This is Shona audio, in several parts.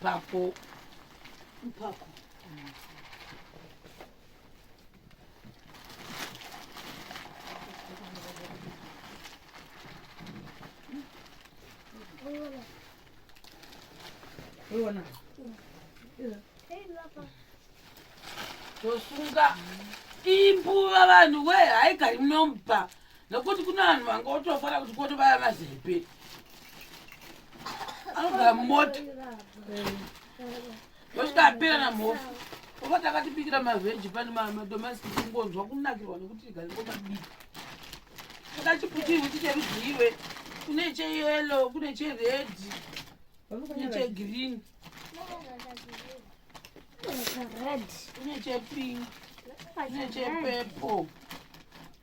Mpako. Mpako. Uona. Tosunga imbuva vanhu we haigari munomba. nokuti kune vanhu vange otofara kuti koti vaya vazepe anogara mumota osvika apera na mhofu oba takatibikira mavheji pane madomasi tingonzwa kunakirwa nekuti tigaringomabika akachiputirwi ticherudziwe kune cheyelo kune cheredi kune chegreen kune chepink kune chepeple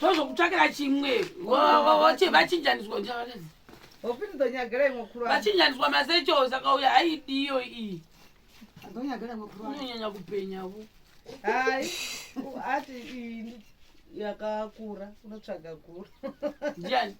tozokutsvakira chimwe vachinjaniswa vachinjaniswa masecho saka uya aidiyo iyi unonyanya kupenyavo hai ati yakakura unotsvaga guru ndiani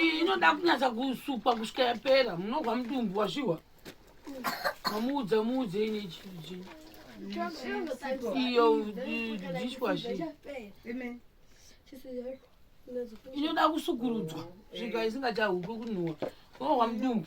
iyi inoda kunyatsa kusukwa kusvika yapera munogwa mutumbu wasviwa mamuudza muudze ine chii iyo dishwashi inoda kusukurudzwa svika isingachahupi kunhuwa unogwa mudumbu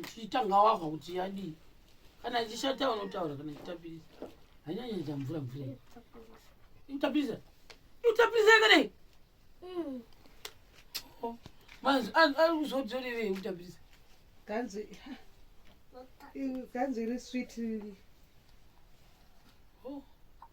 uchitanga wahwa kuti yadii kana ichishata unotaura kana ichitapirisa hanyanyaita mvura mvura itapirisa itapirisa yakadai hmm. oh, manzi ari kuzodzorerei kutapirisa kanzi kanzi iri swit oh.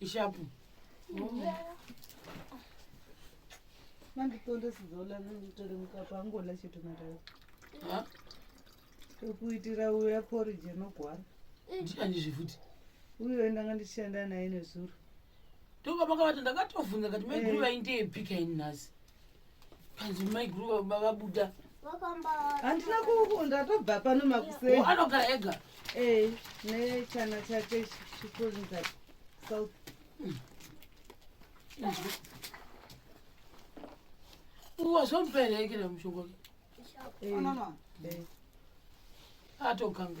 ishapu manditonda sizola nditore mukapu angola chete matara tokuitira uya porije nogwara ndikanizve futi uyo ndanga ndichishanda naye nezuro ndokabakavati ndakatovhunza kati maiguru vaindeepika ini nhasi Hanzi mai guru vabuda. Handina kukunda tobva pano makuseni. Anogara ega. Eh, ne chana chake chikuru nda. South. Uwa zompere ikira eh, mshongo. Eh. Mama. Eh. Atoganga.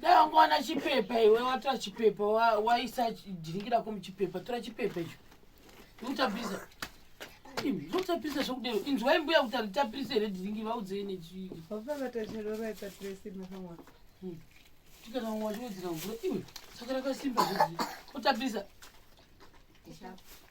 dai wanga wana chipepa iwe watora chipepa waisa dhingi rako muchipepa tora chipepa icho utapisa zotapisa zvokudero inzwai mbuya kuti anditapise here dhingi vaudzei nechii tikana wachiodzera mvura iwe saka rakasimba zvozi utapisa Deixa eu...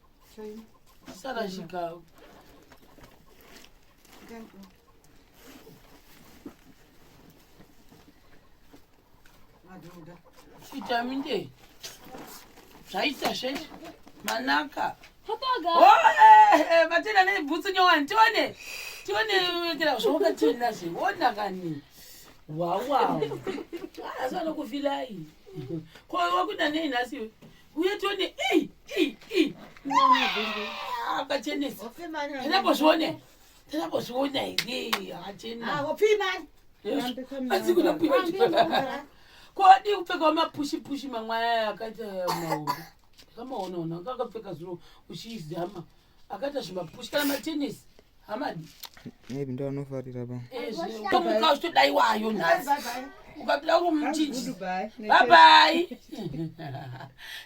sarashika chitaminde zvaita zvese manaka vatenda nebhutsu nyowani tione tione wekera zvawakationaze wona kani wawawo asi vanokufilai ko wakuda nei nhasi uye tione ii ii ii akachenesa tanambozvione tanambozviona here akachena asi kuda kuita kodi kupfekawo mapushi pushi mamwe aya akaita mahombe kamaonaona kakapfeka zviro uchizama akaita zvimapushi kana matenisi hamadi maybe ndo anofarira pa Eh, zvine- tomuka uchitodaiwayo nhasi ukapinda uri muchinji babai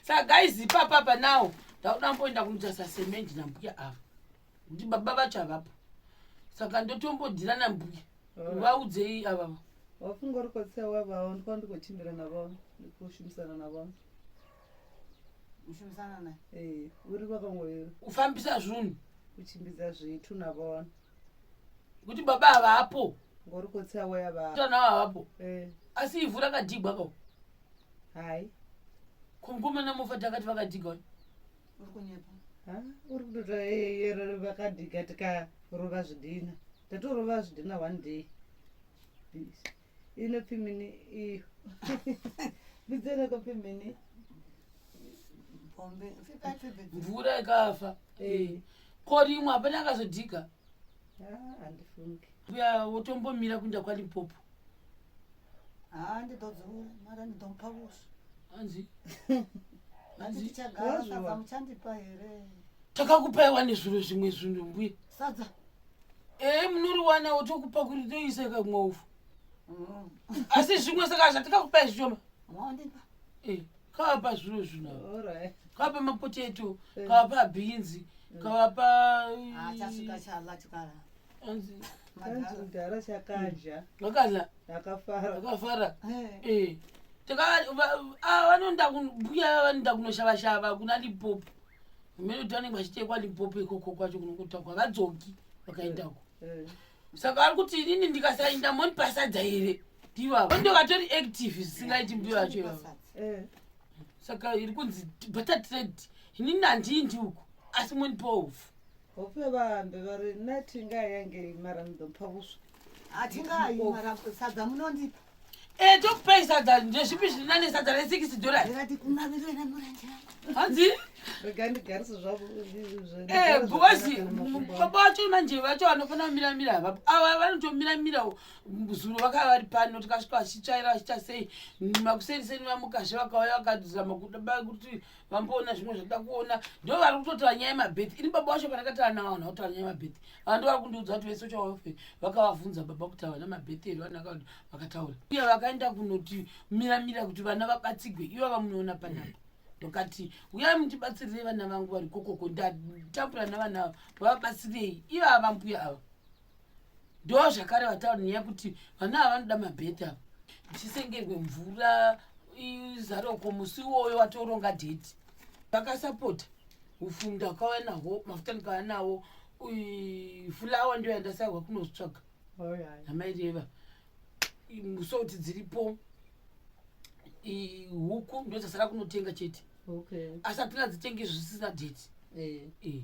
saka guys ipapapa now ndakuda amboenda kunotarisa semendi nambuya ava kuti baba vacho havapo saka ndotombodhira nambuya vaudzei avava wafungorikotsewa vavo ndikwa ndikochimbira navo ndikushumisana navo mushumisana naye eh, uri kwakangoyero kufambisa zvunhu kuchimbidza zvitu navona kuti baba havapo ngori kotsa waya vatana havapo eh. asi ivhu rakadigwa ko hai komkomana mofa takati vakadiga uri kunyepa uri kutota yero vakadiga tikarova zvidhina tatorova zvidhina one day Peace. inopimini iyo bidzerokopimini mvura ikafa eh. ko rimwe hapana akazodhika uya ah, wotombomira kuinda kwalimpopo ah, takakupa iwa nezviro zvimwe zvinhu mbuya sadza ee munoriwanawo tokupa kuti toisa kamwovu mm. asi zvimwe saka zvatikakupai zvishoma eh, kavapa zviro zvino kavapa mapoteto eh. kavapa bhinzi mm. kavapa mudhara chakadya vakadya vakafara eh. vanonda mbuya vanoda kunoshava shava kuna lipopo vamene kuti vanenge vachitekwa limpopo ikoko kwacho kunokutakwa vadzoki vakaendako eh. saka vari kuti inini ndikasainda moni pasadza here ndivavo ndo vatori active zvisingaiti mbuyo yacho ivavo eh. saka iri kunzi butter trade inini handii ndiuko asi moni pohofu Hope vambe vari nati ngayange imara ndopha kuswa. Atingayi mara sadza munondipa. Eh tokupai sadza ndezvipi zviri nane sadza re 6 dollars. Ndati kumavirira na muranje. Hanzi Rega ndigarise zvavo. Eh bosi baba vacho manje vacho vanofana kumira mira havapo. Ava vanotomira mira zuro vakava vari pano tikasvika vachitsvaira vachiita sei makuseni seni vamukazve vakauya vakadzama kuda kuti vamboona zvimwe zvatoda kuona ndo vari kutotaura nyaya yemabheti ini baba wacho pandakataura navo vanhu vakutaura nyaya yemabheti ava ndo vari kundiudza kuti vese chawafe vakavavhunza baba kuti havana mabheti here vana vakati vakataura uye vakaenda kunoti miramira kuti vana vabatsigwe ivo vamunoona panapa ndokati uyai mutibatsirirei vana vangu vari kokoko ndatambura navana ava vavabatsirei ivo ava mbuya ava ndo zvakare vataura nyaya kuti vana ava vanoda mabhedha chisengerwe mvura izaroko musi iwoyo watoronga date vakasapota ufu ndakauya naho mafuta ndikauya nawo fulawa ndiyo yandasahwa kunozvitsvaga amaireva musouti dziripo huku ndodzasara kunotenga chete asati nadzitenge zvisina date eh. Eh.